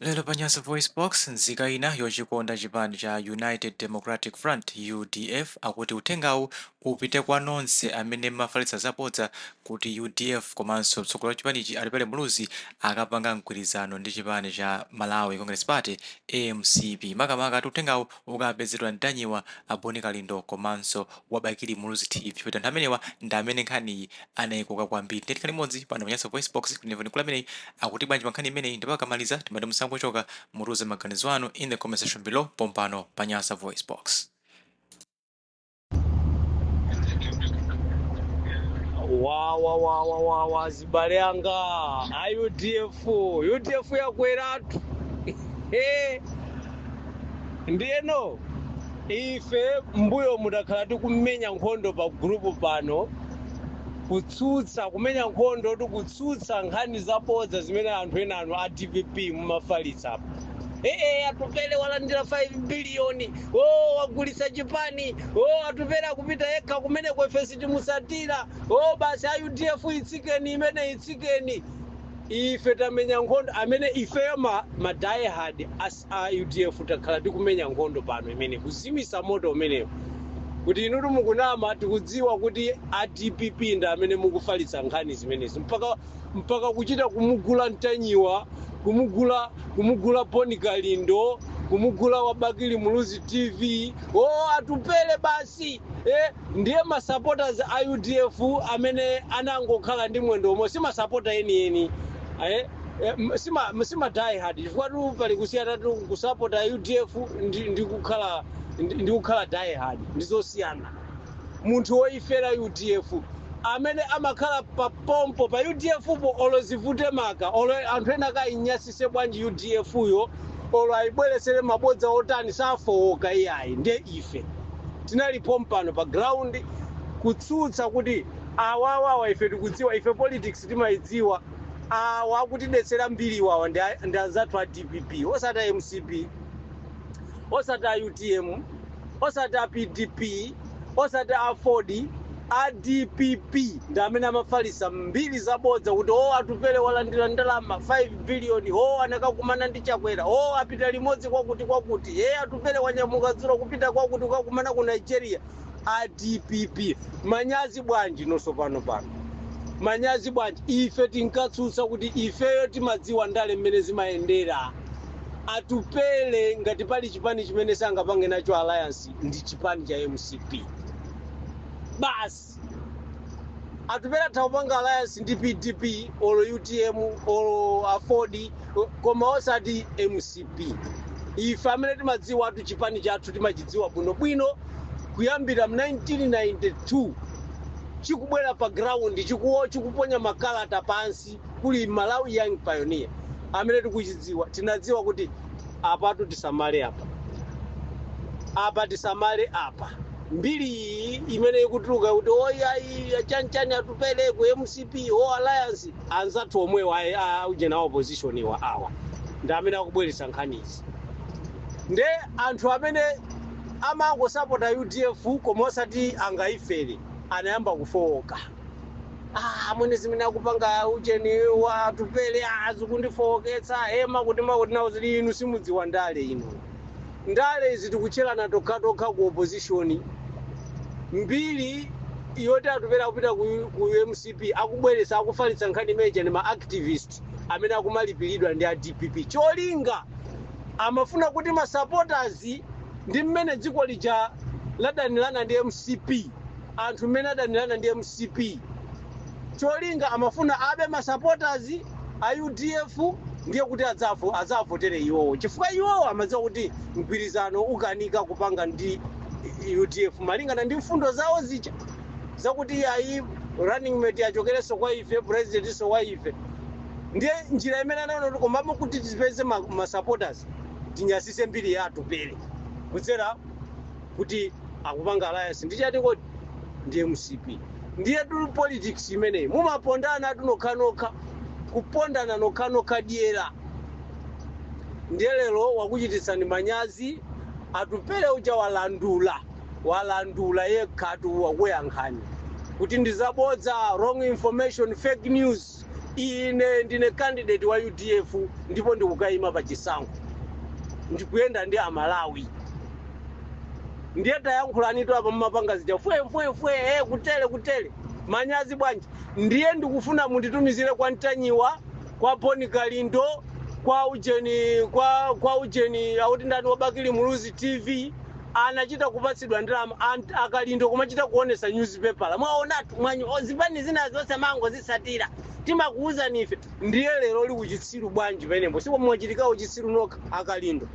Lero pa Nyasa VoiceBox, nzika ina yochikonda chipani cha United Democratic Front, udf, akuti uthengawu upite kwa nonse amene mmafalitsa zabodza kuti udf komanso mtsogoleri wa chipanichi Atupele Muluzi akapanga mgwirizano ndi chipani cha Malawi Congress Party, mcp. Makamaka ati uthengawu ukapezedwa ntanyiwa a boni kalindo komanso wa bakili muluzi tv poti anthu amenewa ndi amene nkhaniyi anaikoka kwambiri ndiye tikhale limodzi pano pa nyasa voice box kuti timve mkulu ameneyi akuti bwanji pa nkhani imeneyi ndipo akamaliza timati musangochoka mutiuze maganizo anu in the comment section below pompano pa nyasa voice box wawa wawa wawa azibale anga a udf udf yakweratu Eh, ndiyeno ife mbuyomu takhala tikumenya nkhondo pa gurupu pano kutsutsa kumenya nkhondo tikutsutsa nkhani zabodza zimene anthu enanu a dpp mumafalitsa apa ee atupele walandira 5 biliyoni o wagulitsa chipani o atupele akupita yekha kumeneko ife sitimusatira o basi a udf itsikeni imene itsikeni ife tamenya nkhondo amene ifeyo ma, ma diehard a udf takhala tikumenya nkhondo pano imene kuzimisa moto umenewo kuti inutu mukunama tikudziwa kuti a dpp ndi amene mukufalitsa nkhani zimenezi mpaka mpaka kuchita kumugula ntanyiwa kumugula kumugula boni kalindo kumugula wa bakili muluzi tv o atupele basi eh, ndiye masupporters a udf amene anangokhala ndi mwendo omwe si masapota enieni eh, eh, m- si ma- si ma die hard chifukwatu pali kusiyanatu kusapota udf ndi, ndi kukhala ndi, ndi kukhala die hard ndi zosiyana munthu woifera udf amene amakhala pa pompo pa udfpo olo zivute maka olo anthu enaake ainyasise bwanji udfyo olo aibweresere mabodza otani safowoka iyayi nde ife tinali pompano pa ground kutsutsa kuti awawa awa ife tikudziwa ife politics timaidziwa awa akutidetsera mbiri awawa ndi a- ndi anzathu a dpp osati a mcp osati a utm osati a pdp osati aford a dpp ndi amene amafalisa mbiri zabodza kuti o atupele walandira ndalama 5 biliyoni o anakakumana ndi chakwera o apita limodzi kwakuti kwakuti e atupele wanyamuka dzulo kupita kwakuti kukakumana ku nigeria a dpp manyazi bwanji nonso pano pano manyazi bwanji ife tinkatsutsa kuti ifeyo timadziwa ndale mmene zimayendera atupele ngati pali chipani chimene sangapange nacho alliance ndi chipani cha mcp basi atupele atha kupanga alliance ndi pdp olo utm olo aford Ko- koma osati mcp ife amene timadziwatu chipani chathu timachidziwa bwinobwino kuyambira mu 1992 chikubwera pa ground chikuwo chikuponya makalata pansi kuli malawi young pioneer amene tikuchidziwa tinadziwa kuti apatu tisamale apa apa tisamale apa mbiri iyi imene ikutuluka kuti oyayi chanchani atupele ku mcp o alliance Anzathu omwewa a ujena a opposition wa awa ndi amene akubweretsa nkhani izi nde anthu amene amangosapota udf koma osati angayifere anayamba kufowoka ah amwene zimene akupanga ujeni wa atupele ah zikundifowoketsa he ma kuti makuti nawo zili inu simudziwa ndale inu Ndale izi tikutchelana tokhatokha ku opposition. Mbiri yoti Atupele akupita ku, ku mcp akubweretsa akufalitsa nkhani imene ija ndi ma activist amene akumalipilidwa ndi a dpp. Cholinga amafuna kuti ma supporters ndi mmene dziko lija ladanilana ndi mcp, anthu mmene adanilana ndi mcp. cholinga amafuna abe ma supporters a udf ndiye kuti adzafu adzavotere iwowo chifukwa iwowo amadziwa kuti mgwirizano ukanika kupanga ndi udf malingana ndi mfundo zawo zija zakuti ayi running mate achokerenso kwa ife presidentinso wa ife ndiye njira imene anaona kuti komano kuti tipeze ma, ma supporters tinyasise mbiri ya atupele kudzera kuti akupanga alliance ndi chati kodi ndi mcp ndiyetu politics imeneyi mumapondanatu nokhanokha kupondana nokhanokha dyera ndiye lero wakuchititsani manyazi atupele uja walandula walandula yekhatu wakuyankhani kuti ndizabodza wrong information fake news Ine ndine candidate wa udf ndipo ndikukayima pa chisankho. Ndikuyenda ndi Amalawi. Ndiye tayankhulanitu apa mmapanga zija fwe fwe fwe eh, kutele kutele. Manyazi bwanji? Ndiye ndikufuna munditumizire kwa Ntanyiwa, kwa Boni Kalindo, kwa Ujeni kwa kwa Ujeni akuti ndani wa Bakili Muluzi TV anachita kupatsidwa ndalama akalindo kumachita kuonesa nyuzipepala mwaonatu mwanya zipani zina zonse mumangozitsatira timakuwuzani ife ndiye lero uli ku chitsiru bwanji penepo simwachitika uchitsiru nokha akalindo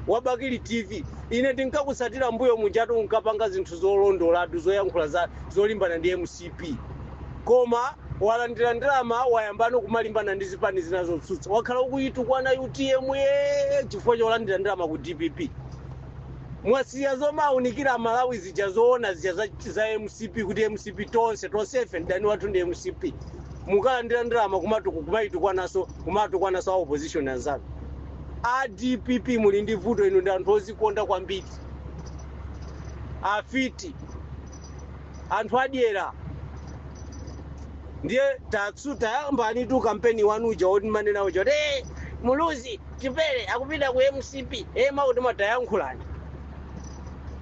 wabakili tv ine tinkakutsatira mbuyo mujatu unkapanga zinthu zolondolatu zoyankhula za zolimbana ndi mcp koma walandira ndalama wayambano kumalimbana ndi zipani zina zotsutsa wakhala ukuyitukwana utm yee chifukwa cholandira ndalama ku dpp mwasiya zomawunikira amalawi zija zoona zija za, za mcp kuti mcp tonse tonsefe mdani wathu ndi mcp mukalandira ndalama kumatuku kumayitukwana kumatukwananso a opposition anzanu a dpp muli ndi vuto inu ndi anthu ozikonda kwambiri afiti anthu adyera ndiye tatsu tayambanitu kampeni wanu uja woti mumanena uja kuti "Eh, muluzi Chipele akupita ku mcp e mwakuti mwakuti tayankhulani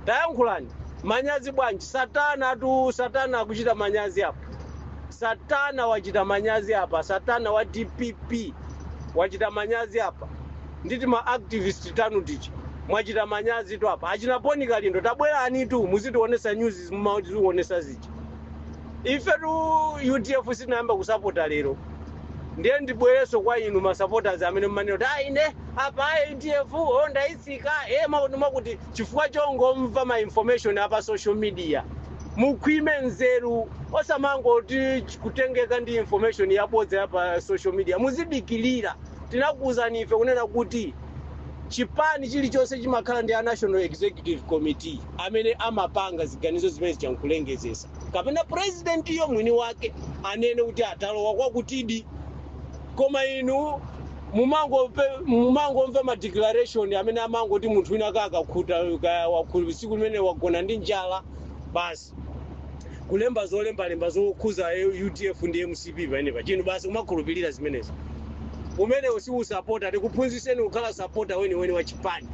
tayankhulani manyazi bwanji satanatu satana akuchita manyazi apa satana wachita manyazi apa satana wa dpp wachita manyazi apa ndi tima activist tanu tija mwachita manyazitu apa achina boni kalindo tabwerenitu muzitionesa news mumatiwonesa zija ifetu udf sitinayambe kusapota lero ndiye ndibwereso kwa inu masupporters amene mmanena kuti ayi ine apa ayi udf o ndayitsika e mwakuti mwakuti chifukwa chongomva ma information apa social media mukhwime nzeru osamangoti kutengeka ndi information yabodza ya pa social media muzidikirira tinakuuzani ife kunena kuti chipani chilichonse chimakhala ndi a National Executive Committee amene amapanga ziganizo zimene zija nkulengezesa kapena presidentiyo mwini wake anene kuti ayi talowa kwakutidi koma inu mumangope- mumangomva ma declaration amene amangoti munthu wina kaya akakhuta kaya wakuti tsiku limene wagona ndi njala basi kulemba zolembalemba zokhuza udf ndi mcp pamenepa inu basi kumakhulupirira zimenezo umenewo si usapota tikuphunzitseni kukhala sapota weniweni wa chipani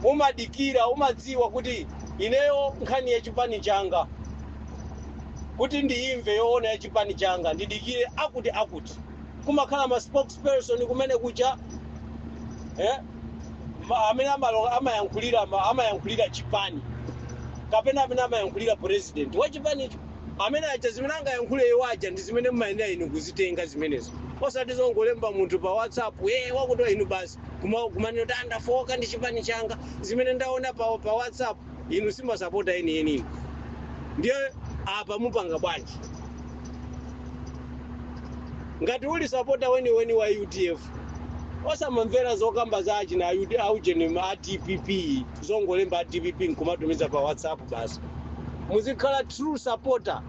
umadikira umadziwa kuti ineyo nkhani ya chipani changa kuti ndiyimve yoona ya chipani changa ndidikire akuti akuti kumakhala ma spokes spokesperson kumene kuja eh? Ma- amene amalo- amayankhulira ma- amayankhulira chipani kapena amene amayankhulira president wa chipanicho amene aja zimene angayankhule iwo aja ndi zimene mumayenera inu kuzitenga zimenezo osati zongolemba munthu pa whatsapp e wakuti inu basi Kuma- kumanena kuti aa ndafooka ndi chipani changa zimene ndaona pa, pa whatsapp inu simasapota enienini ndiye apa mupanga bwanji ngati uli sapota weniweni wa udf osamamvera zokamba za achina ayuti aujeni ma dpp zongolemba a dpp nkumatumiza pa whatsapp basi muzikhala true supporter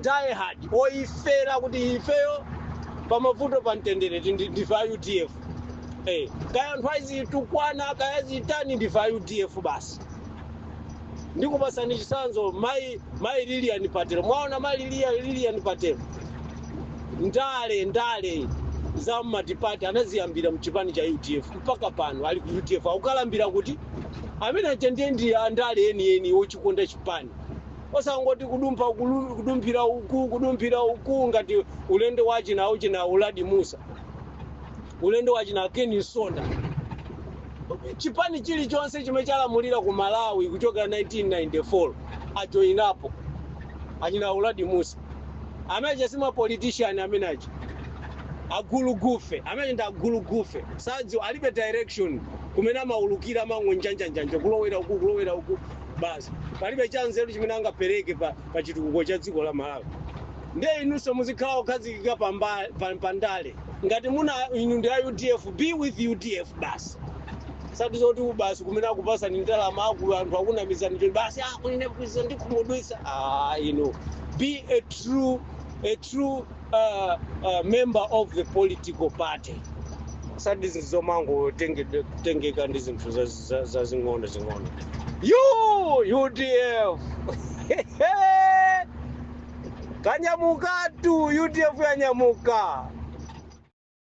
die hard ofera kuti ifeyo pamavuto pa mtendere ti- ndi- ndife a udf Eh, kaya anthu azitukwana kaya azitani ndife a udf basi ndikupasani chisanzo mai mai lilian patel mwaona mai Lilia- lilian patel ndale ndale za multiparty anaziyambira mchipani cha udf mpaka pano ali ku udf akukalambira kuti amene aja ndiye ndi andale enieni ochikonda chipani Osangoti kudumphira uku, kudumphira uku, kudumphira uku ngati ulendo wa achina achina Uladi Musa. Ulendo wa achina Ken Msonda. Chipani chilichonse chimene chalamulira ku Malawi kuchokera 1994 ajoinapo achina Uladi Musa. Amene aja si mapolitician amene aja. Agulugufe, amene aja ndi agulugufe. Sadziwa, alibe direction kumene amaulukira amangonjanjanjanja kulowera uku kulowera uku. basi palibe cha nzeru chimene angapereke pa, pa chitukuko cha dziko la malawi ndiye inunso muzikhala okhazikika pa mba- pa- pa ndale ngati muna inu ndi a udf be with udf basi osati zoti basi kumene akupasani ndalama akulu anthu akunamizani choti basi ah, kunene kuiza ndikhumudwisa ah, inu be a true, a true uh, uh, member of the political party osati zizomangotengeka ndi zinthu zazi za- zazing'ono zing'ono yu udf yanyamukatu udf yanyamuka